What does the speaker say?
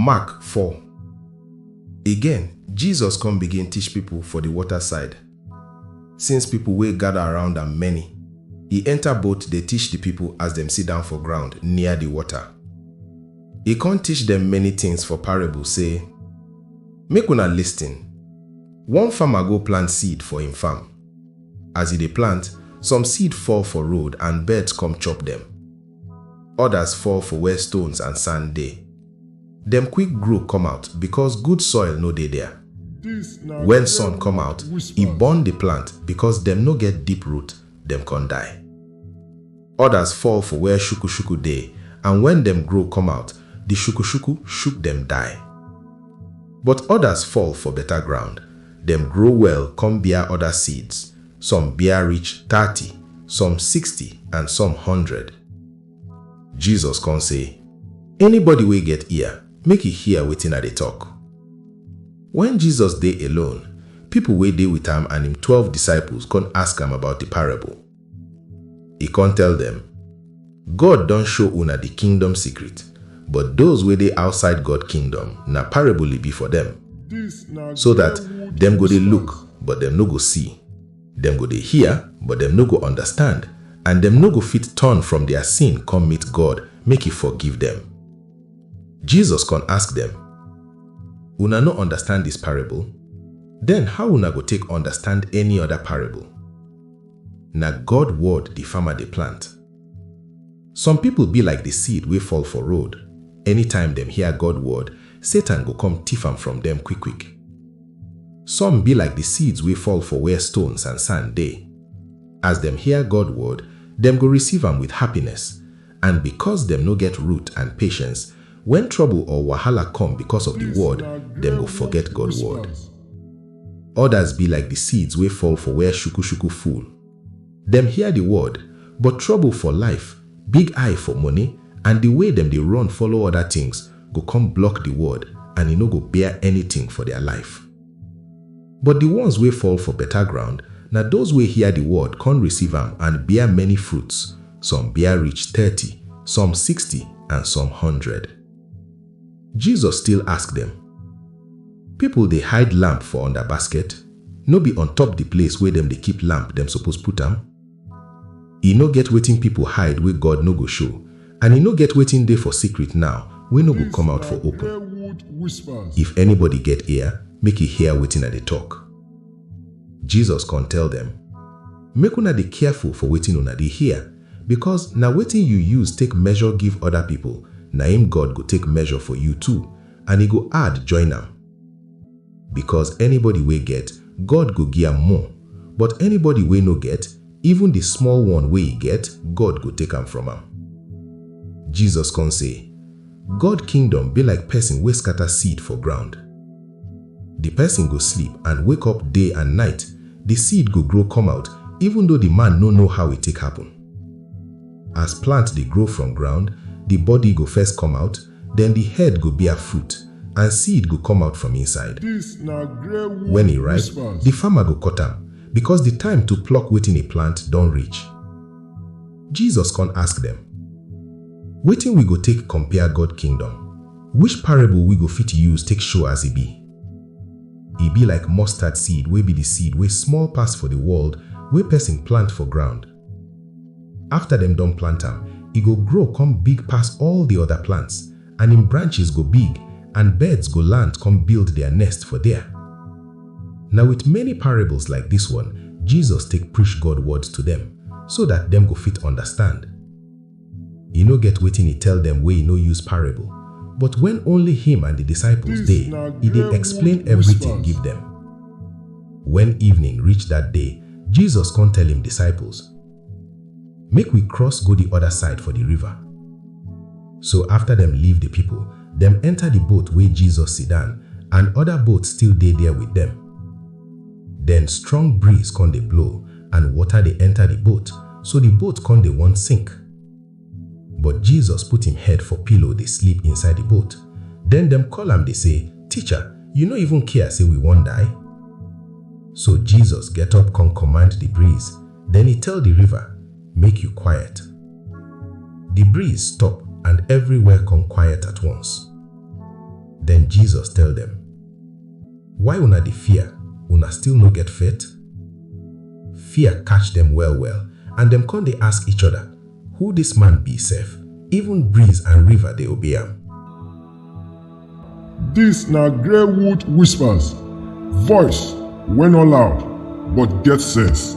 Mark four. Again, Jesus come begin teach people for the water side. Since people wey gather around am many, e enter boat dey teach the people as dem sit down for ground near the water. E come teach dem many things for parable say, Make una listen. One farmer go plant seed for im farm. As e dey plant, some seed fall for road and birds come chop dem. Others fall for where stones and sand dey. Dem quick grow come out because good soil no dey there. When sun come out, e burn the plant because dem no get deep root, dem con die. Others fall for where shuku-shuku dey and when dem grow come out, the shuku-shuku shook dem die. But others fall for better ground, dem grow well con bear other seeds. some bear reach thirty, some sixty, and some hundred. Jesus come say, Anybody wey get ear, make e hear wetin I dey talk. When Jesus dey alone, people wey dey with am and im twelve disciples come ask am about the parable. E come tell them, God don show una di kingdom secret, but doz wey dey outside God kingdom, na parable e be for dem, so dat dem go dey look, but dem no go see, dem go dey hear, but dem no go understand, and dem no go fit turn from dia sin come meet God make e forgive dem. Jesus kon ask dem, Una no understand dis parable? Den how una go take understand any oda parable? Na God word di farmer dey plant. Some pipol bi like di seed wey fall for road, anytime dem hear God word, Satan go kom tiff am from dem kwik-kwik. Some bi like di seeds wey fall for where stones and sand dey. As dem hear God word, dem go receive am with happiness, And because dem no get root and patience, when trouble or wahala come because of the word, dem go forget God word. Others be like the seeds wey fall for where shuku-shuku full. Dem hear the word, but trouble for life, big eye for money, and the way dem dey run follow other things go come block the word and e no go bear anything for their life. But di ones wey fall for beta ground na doz wey hear di word kon receive am and bear many fruits, some bear reach thirty, some sixty and some hundred. Jesus still ask dem, Pipol dey hide lamp for under basket? No be on top di place wey dem dey keep lamp dem suppose put am? E no get wetin pipo hide wey God no go show, and e no get wetin dey for secret now wey no go come out for open. If anybody get ear, make e hear wetin I dey tok. Jesus con tell dem, Make una dey careful for wetin una dey hear, becos na wetin you use take measure give oda pipo, na im God go take measure for you too, and e go add join am. Because anybody wey get, God go gi am more, but anybody wey no get, even di small one wey e get, God go take am from am. Jesus kon sey, God kingdom bi like pesin wey skata seed for ground. Di pesin go sleep and wake up day and night, di seed go grow come out even though di man no know how e take happen. As plant dey grow from ground, di body go first come out, den di head go bear fruit, and seed go come out from inside. Wen e ripe, di farmer go cut am, bikos di time to pluck wetin e plant don reach. Jesus kon ask dem, Wetin wi go take compare God Kingdom? Which parable wi go fit use take show as e be? E be like mustard seed wey be di seed wey small pass for di world wey pesin plant for ground. Afta dem don plant am, e go grow come big pass all di oda plants, and im branches go big, and birds go land come build dia nest for dia. Na wit many parables like dis one Jesus take preach God words to dem, so dat dem go fit undastand. E no get wetin e tell dem wey e no use parable, but when only him and the disciples dey, e dey explain everything give dem. When evening reach that day, Jesus come tell him disciples, Make we cross go the other side for the river. So after dem leave the people, dem enter the boat wey Jesus sidan and other boats still dey there with dem. Then strong breeze come dey blow and water dey enter the boat, so the boat come dey wan sink. But Jesus put him head for pillow dey sleep inside the boat. Then dem call am dey say, Teacher, you no even care say we wan die? So Jesus get up come command the breeze, then he tell the river, Make you quiet. The breeze stop and everywhere come quiet at once. Then Jesus tell them, Why una dey fear? Una still no get faith? Fear catch dem well well and dem con dey ask each other, Who dis man be sef? Even breeze and river dey obey am. Dis na Greywood Whispers, voice wey no loud but get sense.